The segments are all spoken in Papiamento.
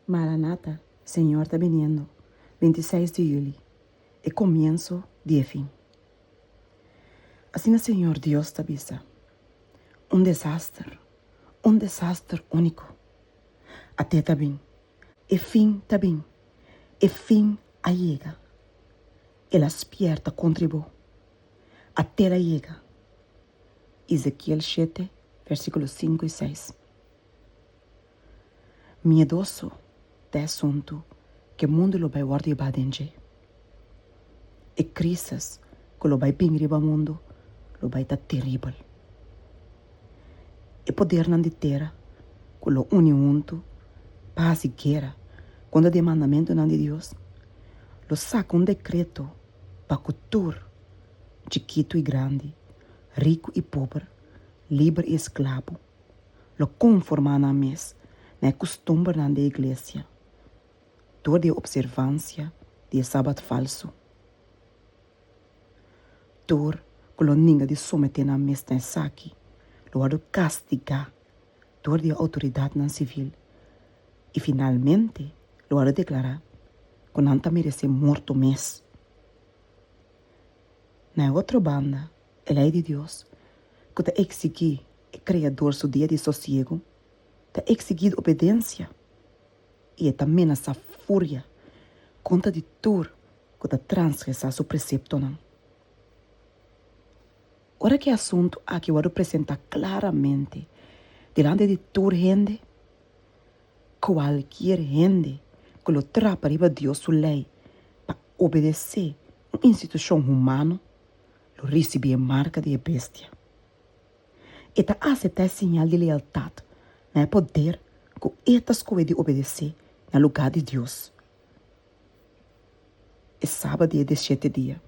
Maranata, Señor ta biniendo, bintiseis di juli, e comienso di e fin. Asina Señor Dios ta bisa, Un desaster, un desaster unico. Ate ta bin, e fin ta bin, e fin a yega. El a spierta contra bo, atel a yega. Ezekiel shete, versiculo sinku i seis. Miedoso ta e suntu ku e mundu lo bai wòrdu yebá den dje. E krísis ku lo bai bini riba mundu lo bai ta teribel. E podernan di tera ku lo uni huntu pa hasi guera kontra di e mandamentunan di Dios lo saka un dekreto pa ku tur, chikitu i grandi, riku i pober, liber i esklabo, lo konformá nan mes na e kustumbernan di e iglesia dor di e opservansia di e sabat falsu, dor ku lo ninga di someté nan mes na esaki lo wòrdu kastigá dor di e outoridatnan sivil i finalmente lo wòrdu deklará ku nan ta meresé morto mes. Na e otro banda, e Lei di Dios ku ta eksigí E Kreador su dia di sosiegu ta eksigí obedensia i e ta menasá furia kontra di tur ku ta transgresá su preseptonan. Ora ku e asuntu akí wòrdu presentá klaramente dilanti di tur hende, kualkier hende ku lo trapa riba Dios su lei pa obedesé un institushon humano lo risibí e marka di e Bestia. E ta aseptá e siñal di lealtat na e poder ku e ta skohe di obedesé na lugá di Dios e saba di e diesiete dia,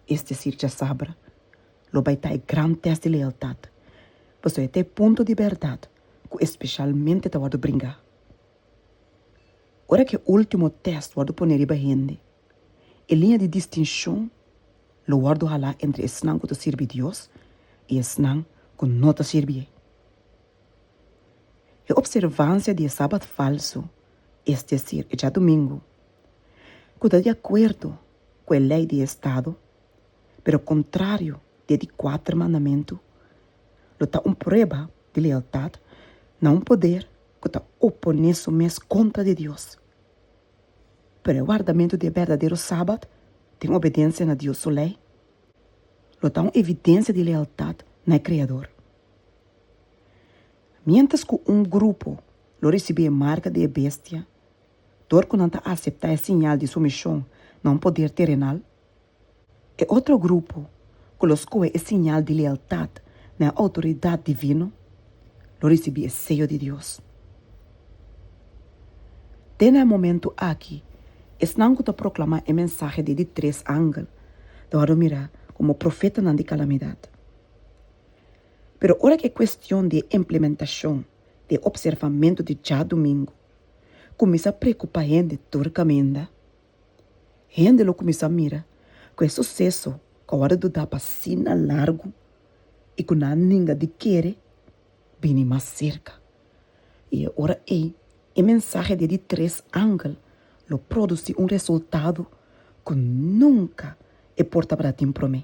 es desir djasabra, lo bai ta e gran tèst di lealtat, pasobra e ta e punto di bèrdat ku espeshalmente ta wòrdu bringá. Ora ku e último tèst wòrdu pone riba hende. E liña di distinshon lo wòrdu halá entre esnan ku ta sirbi Dios i esnan ku no ta sirbié. E opservansia di e Sabat falsu, es desir e djadumingu, ku ta di akuerdo ku e lei di e estado pero kontrario di e di kuater mandamentu, lo ta un prueba di lealtat na un poder ku ta oponé su mes kontra di Dios. Pero e wardamentu di e berdadero Sabat den obedensia na Dios su lei lo ta un evidensia di lealtat na e Kreador. Miéntras ku un grupo lo risibí e marka di e bestia dor ku nan ta aseptá e siñal di sumishon na un poder terenal, E otro grupo ku lo skohe e siñal di lealtat na e outoridat divino lo risibí e seyo di Dios. Te na e momentu aki, esnan ku ta proklamá e mensahe di e di tres angel lo wòrdu mirá komo profetanan di kalamidat. Pero ora ku e kuestion di e implementashon di e opservamentu di djadumingu kuminsá preokupá hende tur kaminda, Hende lo kuminsá mira ku e suseso ku a wòrdu dá pa asina largu i ku nan a ninga di kere bini mas serka. I e ora ei e mensahe di e di tres angel lo produsí un resultado ku nunka e por tabatin promé.